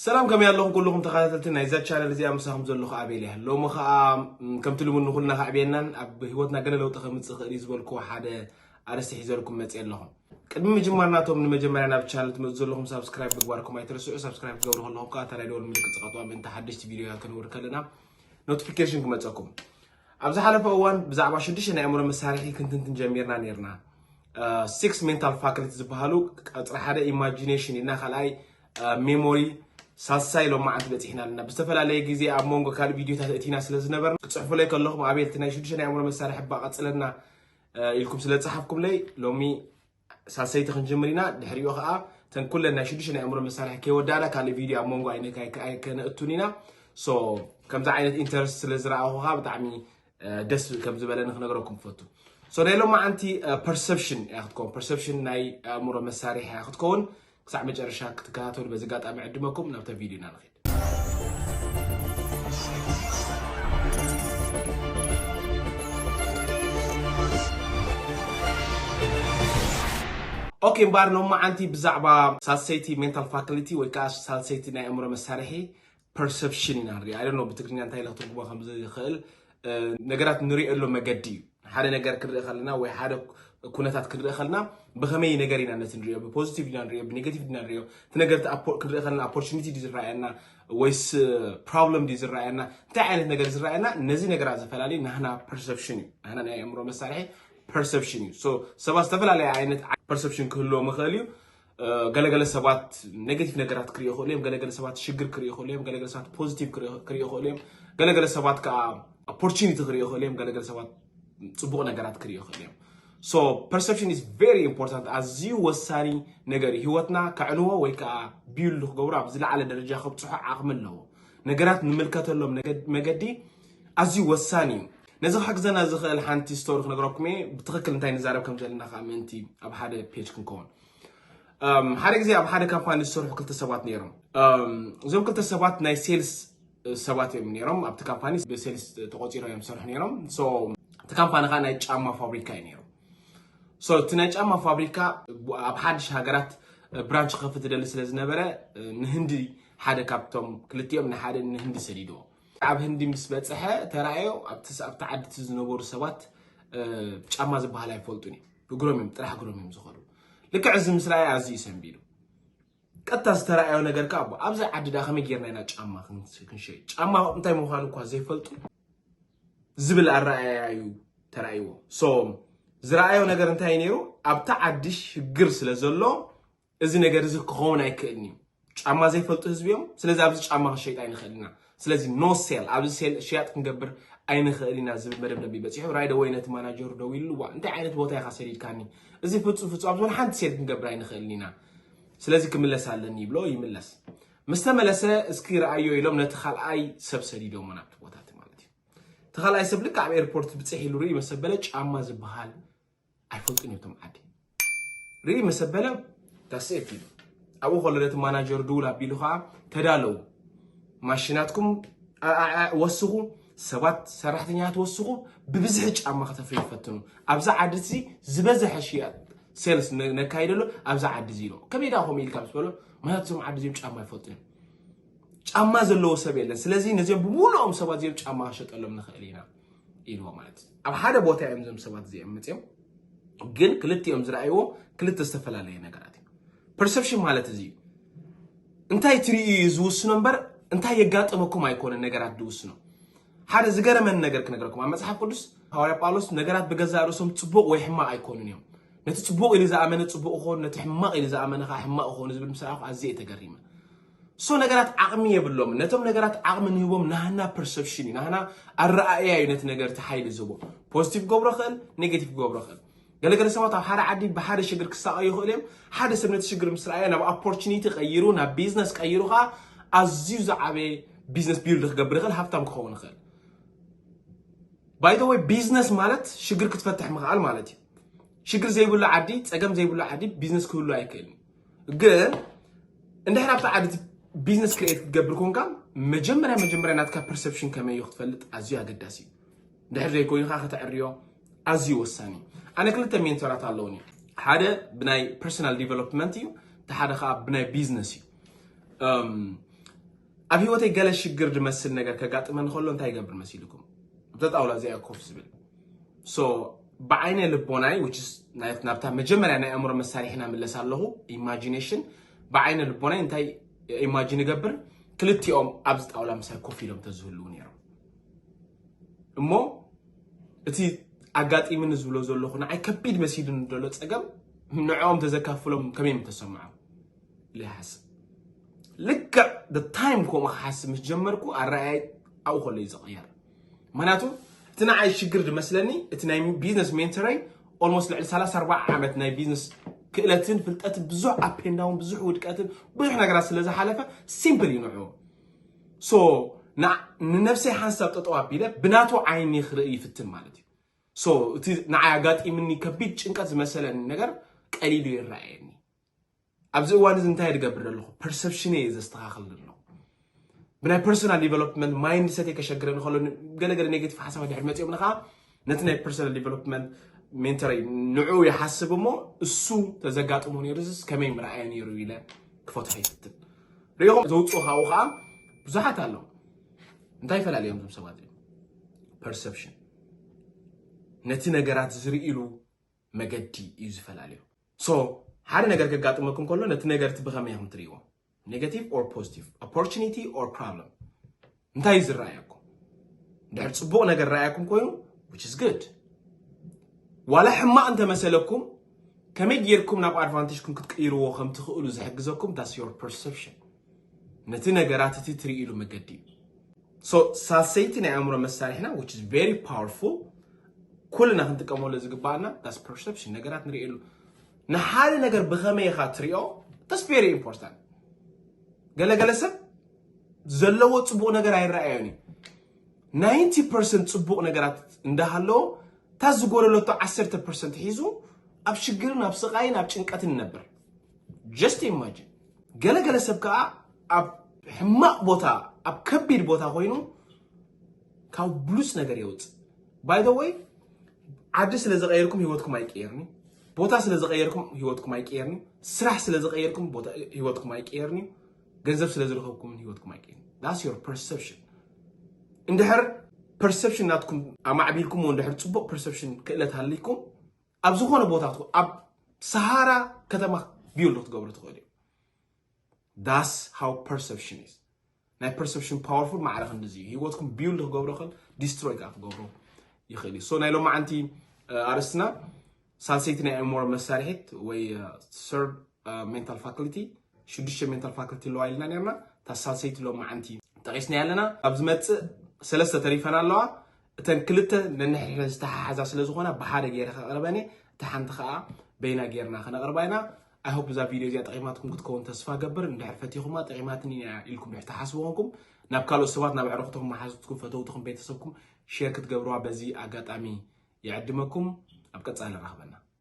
ሰላም ከመይ ኣለኹም ኩሉኹም ተኸታተልቲ ናይዛ ቻነል እዚኣ ምሳኹም ዘለኹ ኣቤል እያ ሎሚ ኸኣ ከምቲ ልሙድ ንኹልና ከዕብየናን ኣብ ህይወትና ገለ ለውጢ ከምፅእ ይኽእል እዩ ዝበልክዎ ሓደ ኣርእስቲ ሒዘልኩም መፅየ ኣለኹ ቅድሚ ምጅማርና እቶም ንመጀመርያ ናብ ቻነል ትመፁ ዘለኹም ሳብስክራይብ ምግባርኩም ኣይትረስዑ ሳብስክራይብ ክትገብሩ ከለኹም ከዓ እታ ናይ ደወል ምልክት ፀቐጥዋ ምእንቲ ሓደሽቲ ቪድዮታት ክንውር ከለና ኖቲፊኬሽን ክመፀኩም ኣብ ዝሓለፈ እዋን ብዛዕባ ሽዱሽተ ናይ ኣእምሮ መሳርሒ ክንትንትን ጀሚርና ነርና ሲክስ ሜንታል ፋክልቲ ዝበሃሉ ቀፅሪ ሓደ ኢማጂኔሽን ኢልና ካልኣይ ሜሞሪ ሳልሳይ ሎማዓንቲ በፂሕና ኣለና ብዝተፈላለየ ግዜ ኣብ መንጎ ካልእ ቪድዮታት እቲና ስለ ዝነበርና ክፅሕፉለይ ከለኹም ኣቤልቲ ናይ ሽዱሽተ ናይ ኣእምሮ መሳርሒ ሕባ ቀፅለና ኢልኩም ስለ ዝፀሓፍኩምለይ ሎሚ ሳልሰይቲ ክንጅምር ኢና ድሕሪኡ ከዓ ተን ኩለን ናይ ሽዱሽተ ናይ ኣእምሮ መሳርሒ ከይወዳእና ካልእ ቪድዮ ኣብ መንጎ ኣይከነእቱን ኢና ከምዚ ዓይነት ኢንተረስት ስለ ዝረኣኹ ከዓ ብጣዕሚ ደስ ከም ዝበለኒ ክነግረኩም ክፈቱ ሶ ናይ ሎማዓንቲ ፐርሰፕሽን እያ ክትከውን ፐርሰፕሽን ናይ ኣእምሮ መሳርሒ እያ ክትከውን ክሳዕ መጨረሻ ክትከታተሉ በዚ ኣጋጣሚ ዕድመኩም ናብታ ቪድዮ ኢና ንኸይድ ኦኬ እምበኣር ሎማዓንቲ ብዛዕባ ሳልሰይቲ ሜንታል ፋክሊቲ ወይ ከዓ ሳልሰይቲ ናይ ኣእምሮ መሳርሒ ፐርሰፕሽን ኢና ንሪኣ ኣይ ዶንት ኖ ብትግርኛ እንታይ ኢለ ክትርጉሞ ከም ዝኽእል ነገራት ንሪኤሉ መገዲ እዩ ሓደ ነገር ክንርኢ ከለና ወይ ሓደ ኩነታት ክንርኢ ከለና ብከመይ ነገር ኢና ነቲ ንሪኦ ብፖዚቲቭ ኢና ንሪኦ ብኔጋቲቭ ኢና ንሪኦ እቲ ነገር ክንርኢ ከለና ኦፖርቹኒቲ ድዩ ዝረኣየና ወይስ ፕሮብለም ድዩ ዝረኣየና እንታይ ዓይነት ነገር ዝረኣየና ነዚ ነገራት ዝፈላለዩ ናህና ፐርሰፕሽን እዩ ናህና ናይ ኣእምሮ መሳርሒ ፐርሰፕሽን እዩ ሰባት ዝተፈላለየ ዓይነት ፐርሰፕሽን ክህልዎም ይኽእል እዩ ገለገለ ሰባት ኔጌቲቭ ነገራት ክሪኦ ይኽእሉ እዮም ገለገለ ሰባት ሽግር ክሪኦ ይኽእሉ እዮም ገለገለ ሰባት ፖዚቲቭ ክሪኦ ይኽእሉ እዮም ገለገለ ሰባት ከዓ ኦፖርቹኒቲ ክሪኦ ይኽእሉ እዮም ገለገለ ሰባት ፅቡቕ ነገራት ክሪኦ ይኽእሉ እዮም ሶ ፐርሰፕሽን ኢዝ ቨሪ ኢምፖርታንት ኣዝዩ ወሳኒ ነገር እዩ ህይወትና ከዕንዎ ወይ ከዓ ቢሉ ክገብሮ ኣብ ዝለዓለ ደረጃ ከብፅሖ ዓቕሚ ኣለዎ ነገራት ንምልከተሎም መገዲ ኣዝዩ ወሳኒ እዩ ነዚ ክሕግዘና ዝኽእል ሓንቲ ስቶሪ ክነግረኩም እየ ብትኽክል እንታይ ንዛረብ ከም ዘለና ከዓ ምእንቲ ኣብ ሓደ ፔጅ ክንከውን ሓደ ግዜ ኣብ ሓደ ካምፓኒ ዝሰርሑ ክልተ ሰባት ነይሮም እዞም ክልተ ሰባት ናይ ሴልስ ሰባት እዮም ነይሮም ኣብቲ ካምፓኒ ብሴልስ ተቆፂሮ እዮም ዝሰርሑ ነይሮም እቲ ካምፓኒ ከዓ ናይ ጫማ ፋብሪካ እዩ ነይሩ እቲ ናይ ጫማ ፋብሪካ ኣብ ሓድሽ ሃገራት ብራንች ክከፍት ዝደሊ ስለ ዝነበረ ንህንዲ ሓደ ካብቶም ክልቲኦም ንሓደ ንህንዲ ሰዲድዎ ኣብ ህንዲ ምስ በጽሐ ተራእዮ ኣብቲ ኣብቲ ዓዲ እቲ ዝነበሩ ሰባት ጫማ ዝበሃል ኣይፈልጡን እዮም እግሮም እዮም ጥራሕ እግሮም እዮም ዝኸዱ ልክዕ እዚ ምስ ረኣየ ኣዝዩ ሰንቢዱ ቀጥታ ዝተረኣዮ ነገር ከዓ ኣቦ ኣብዚ ዓዲ ዳ ከመይ ጌርና ኢና ጫማ ክንሸይጥ ጫማ እንታይ ምዃኑ እኳ ዘይፈልጡ ዝብል ኣረኣያ እዩ ተራእይዎ ሶ ዝረኣዮ ነገር እንታይ ነይሩ ኣብቲ ዓዲ ሽግር ስለ ዘሎ እዚ ነገር እዚ ክኸውን ኣይክእልን እዩ። ጫማ ዘይፈልጡ ህዝቢ እዮም። ስለዚ ኣብዚ ጫማ ክንሸይጥ ኣይንኽእል ኢና። ስለዚ ኖ ሴል ኣብዚ ሴል ሽያጥ ክንገብር ኣይንኽእል ኢና ዝብል መደምደሚ በፂሑ ራይደ ወይ ነቲ ማናጀሩ ደዊሉ ዋ እንታይ ዓይነት ቦታ ኢኻ ሰዲድካኒ እዚ ፍፁም ፍፁም ኣብዚ ውን ሓንቲ ሴል ክንገብር ኣይንኽእልን ኢና ስለዚ ክምለስ ኣለኒ ይብሎ ይምለስ ምስ ተመለሰ እስኪ ረኣዮ ኢሎም ነቲ ካልኣይ ሰብ ሰዲዶሞ ናብቲ ቦታ እቲ ማለት እዩ እቲ ካልኣይ ሰብ ልክዕ ኣብ ኤርፖርት ብፅሕ ኢሉ ርኢ መሰበለ ጫማ ዝበሃል ኣይፈልጡን እዮም እቶም ዓዲ ርኢ ምስ ኣበለ ዳስኤት ኢሉ ኣብኡ ከሎ ነቲ ማናጀር ድውል ኣቢሉ ከዓ ተዳለው ማሽናትኩም ወስኹ ሰባት ሰራሕተኛታት ወስኹ ብብዝሒ ጫማ ከተፍሪ ይፈትኑ ኣብዚ ዓዲ እዚ ዝበዝሐ ሽያጥ ሴልስ ነካይደሉ ኣብዚ ዓዲ እዚ ኢሎ ከመይ ዳ ከምኡ ኢልካ ምስ በሎ ምክንያቱ እዞም ዓዲ እዚኦም ጫማ ይፈልጡ እዮም ጫማ ዘለዎ ሰብ የለን ስለዚ ነዚኦም ብምሉኦም ሰባት እዚኦም ጫማ ከሸጠሎም ንኽእል ኢና ኢልዎ ማለት እዩ ኣብ ሓደ ቦታ እዮም እዞም ሰባት እዚኦም መፅኦም ግን ክልቲኦም ዝረኣይዎ ክልተ ዝተፈላለየ ነገራት እዩ ፐርሰፕሽን ማለት እዚ እዩ እንታይ ትርእዩ እዩ ዝውስኖ እምበር እንታይ የጋጥመኩም ኣይኮነ ነገራት ዝውስኖ ሓደ ዝገረመን ነገር ክነገረኩም ኣብ መፅሓፍ ቅዱስ ሃዋርያ ጳውሎስ ነገራት ብገዛእ ርእሶም ፅቡቕ ወይ ሕማቕ ኣይኮኑን እዮም ነቲ ፅቡቕ ኢሉ ዝኣመነ ፅቡቕ ክኾኑ ነቲ ሕማቕ ኢሉ ዝኣመነ ከዓ ሕማቕ ክኾኑ ዝብል ምስ ረኣኹ ኣዝየ ተገሪመ ሶ ነገራት ዓቕሚ የብሎምን። ነቶም ነገራት ዓቕሚ ንህቦም ናህና ፐርሰፕሽን እዩ፣ ናህና ኣረኣእያ እዩ ነቲ ነገር እቲ ሓይሊ ዝህቦ። ፖዚቲቭ ክገብሮ ይኽእል፣ ኔጌቲቭ ክገብሮ ይኽእል። ገለገለ ሰባት ኣብ ሓደ ዓዲ ብሓደ ሽግር ክሳቐዩ ይኽእሉ እዮም። ሓደ ሰብ ነቲ ሽግር ምስ ረኣየ ናብ ኦፖርቹኒቲ ቀይሩ ናብ ቢዝነስ ቀይሩ ከዓ ኣዝዩ ዝዓበየ ቢዝነስ ቢልድ ክገብር ይኽእል፣ ሃብታም ክኸውን ይኽእል። ባይተወይ ቢዝነስ ማለት ሽግር ክትፈትሕ ምኽኣል ማለት እዩ። ሽግር ዘይብሉ ዓዲ፣ ፀገም ዘይብሉ ዓዲ ቢዝነስ ክህሉ ኣይክእልን። ግን እንድሕር ኣብቲ ዓዲ ቢዝነስ ክሬት ክትገብር ኮንካ መጀመርያ መጀመርያ ናትካ ፐርሰፕሽን ከመይ እዩ ክትፈልጥ ኣዝዩ ኣገዳሲ እዩ ድሕር ዘይኮይኑ ከዓ ከተዕርዮ ኣዝዩ ወሳኒ እዩ ኣነ ክልተ ሜንተራት ኣለውኒ ሓደ ብናይ ፐርሶናል ዲቨሎፕመንት እዩ እቲ ሓደ ከዓ ብናይ ቢዝነስ እዩ ኣብ ህይወተይ ገለ ሽግር ዝመስል ነገር ከጋጥመኒ ከሎ እንታይ ይገብር መሲልኩም? ኣብዛ ጣውላ እዚኣ እየ ኮፍ ዝብል። ሶ ብዓይነ ልቦናይ which is ናይ- ናብታ መጀመርያ ናይ ኣእምሮ መሳርሒና ምለስ ኣለኹ ኢማጂኔሽን ብዓይነ ልቦናይ እንታይ ኢማጂን እገብር ክልቲኦም ኣብዚ ጣውላ ምሳይ ኮፍ ኢሎም ተዝህልው ነይሮም እሞ እቲ ኣጋጢምኒ ዝብሎ ዘለኹ ንዓይ ከቢድ መሲሉኒ ዘሎ ፀገም ንዕኦም ተዘካፍሎም ከመይ ምተሰምዖም ይሓስብ ልክዕ ታይም ከምኡ ክሓስብ ምስ ጀመርኩ ኣረኣያይ ኣብኡ ከሎ እዩ ዝቐየር ምክንያቱ እቲ ንዓይ ሽግር ዝመስለኒ እቲ ናይ ቢዝነስ ሜንተረይ ኦልሞስት ልዕሊ 34 ዓመት ናይ ቢዝነስ ክእለትን ፍልጠትን ብዙሕ ኣፔንዳውን ብዙሕ ውድቀትን ብዙሕ ነገራት ስለ ዝሓለፈ ሲምፕል እዩ ንዑ ሶ ንነብሰይ ሓንሳብ ጠጠው ኣቢለ ብናቱ ዓይኒ ክርኢ ይፍትን ማለት እዩ ሶ እቲ ንዓይ ኣጋጢምኒ ከቢድ ጭንቀት ዝመሰለኒ ነገር ቀሊሉ ይረኣየኒ ኣብዚ እዋን እዚ እንታይ ዝገብር ዘለኹ ፐርሰፕሽነ እየ ዘስተኻኽል ዘለኹ ብናይ ፐርሶናል ዲቨሎፕመንት ማይንድ ሰተይ ከሸግረ ንኸሎ ገለገለ ኔጌቲቭ ሓሳባት ድሕሪ መፂኦም ንኸዓ ነቲ ናይ ፐርሶናል ዲቨሎፕመንት ሜንተረይ ንዕኡ ይሓስብ እሞ እሱ ተዘጋጥሞ ነይሩ ዝስ ከመይ ምርኣየ ነይሩ ኢለ ክፈትሖ ይፍትን ሪኢኹም ዘውፅኡ ካብኡ ከዓ ብዙሓት ኣለዉ እንታይ ይፈላለዮም እዞም ሰባት እዮም ፐርሰፕሽን ነቲ ነገራት ዝርእሉ መገዲ እዩ ዝፈላለዩ ሶ ሓደ ነገር ከጋጥመኩም ከሎ ነቲ ነገር እቲ ብኸመይ ኢኹም ትርእይዎ ኔጋቲቭ ኦር ፖዚቲቭ ኦፖርቹኒቲ ኦር ፕሮብለም እንታይ እዩ ዝረኣየኩም ድሕር ፅቡቕ ነገር ረኣየኩም ኮይኑ ዊች ኢዝ ግድ ዋላ ሕማቕ እንተመሰለኩም ከመይ ጌርኩም ናብ ኣድቫንቴጅኩም ክትቅይርዎ ከም ትኽእሉ ዝሕግዘኩም ዳስ ዮር ፐርሰፕሽን ነቲ ነገራት እቲ ትርእይሉ መገዲ እዩ ሶ ሳልሰይቲ ናይ ኣእምሮ መሳርሒና which is very powerful ኩልና ክንጥቀመሉ ዝግባኣና ዳስ ፐርሰፕሽን ነገራት ንርእየሉ ንሓደ ነገር ብኸመይ ኢኻ ትሪኦ ዳስ ቬሪ ኢምፖርታንት ገለገለ ሰብ ዘለዎ ፅቡቕ ነገር ኣይረኣዮን እዩ ናይንቲ ፐርሰንት ፅቡቕ ነገራት እንዳሃለዎ እታ ዝጎደለቶ ዓሰርተ ፐርሰንት ሒዙ ኣብ ሽግርን ኣብ ስቓይን ኣብ ጭንቀትን ይነብር ጀስት ኢማጂን ገለገለ ሰብ ከዓ ኣብ ሕማቕ ቦታ ኣብ ከቢድ ቦታ ኮይኑ ካብ ብሉፅ ነገር የውፅእ ባይ ዘ ወይ ዓዲ ስለ ዝቀየርኩም ህይወትኩም ኣይቀየርኒ ቦታ ስለ ዝቀየርኩም ህይወትኩም ኣይቀየርኒ ስራሕ ስለ ዝቀየርኩም ህይወትኩም ኣይቀየርኒ ገንዘብ ስለ ዝረኸብኩም ህይወትኩም ኣይቀየርኒ ዳስ ዮር ፐርሰፕሽን እንድሕር ፐርሰፕሽን ናትኩም ኣማዕቢልኩምዎ እንድሕር ፅቡቅ ፐርሰፕሽን ክእለት ሃሊኩም ኣብ ዝኾነ ቦታ ትኹ- ኣብ ሰሃራ ከተማ ቢውልድ ክትገብሮ ትኽእል እዩ ዳስ ሃው ፐርሰፕሽን ኢዝ ናይ ፐርሰፕሽን ፓወርፉል ማዕረ ክንዲዚ እዩ ህይወትኩም ቢውልድ ክገብሮ ይኽእል ዲስትሮይ ከዓ ክገብሮ ይኽእል እዩ ሶ ናይ ሎማዓንቲ እ፣ ኣርእስትና ሳልሰይቲ ናይ ኣእምሮ መሳርሒት ወይ ሰርብ ሜንታል ፋክልቲ ሽዱሽተ ሜንታል ፋክልቲ ኣለዋ ኢልና ነርና እታ ሳልሰይቲ ሎማዓንቲ ጠቂስና ኣለና ኣብ ዝመፅእ ሰለስተ ተሪፈን ኣለዋ እተን ክልተ ነንሕድሕደን ዝተሓሓዛ ስለ ዝኾና ብሓደ ገይረ ከቕርበን እየ እታ ሓንቲ ከዓ በይና ገይርና ከነቕርባ ኢና ኣይሆፕ እዛ ቪድዮ እዚኣ ጠቂማትኩም ክትከውን ተስፋ ገብር እንድሕር ፈቲኹማ ጠቂማትኒ እያ ኢልኩም ድሕር ትሓስቡ ኮንኩም ናብ ካልኦት ሰባት ናብ ኣዕርኽትኹም መሓዙትኩም ፈተውትኹም ቤተሰብኩም ሼር ክትገብርዋ በዚ ኣጋጣሚ ይዕድመኩም ኣብ ቀፃሊ ንራኽበና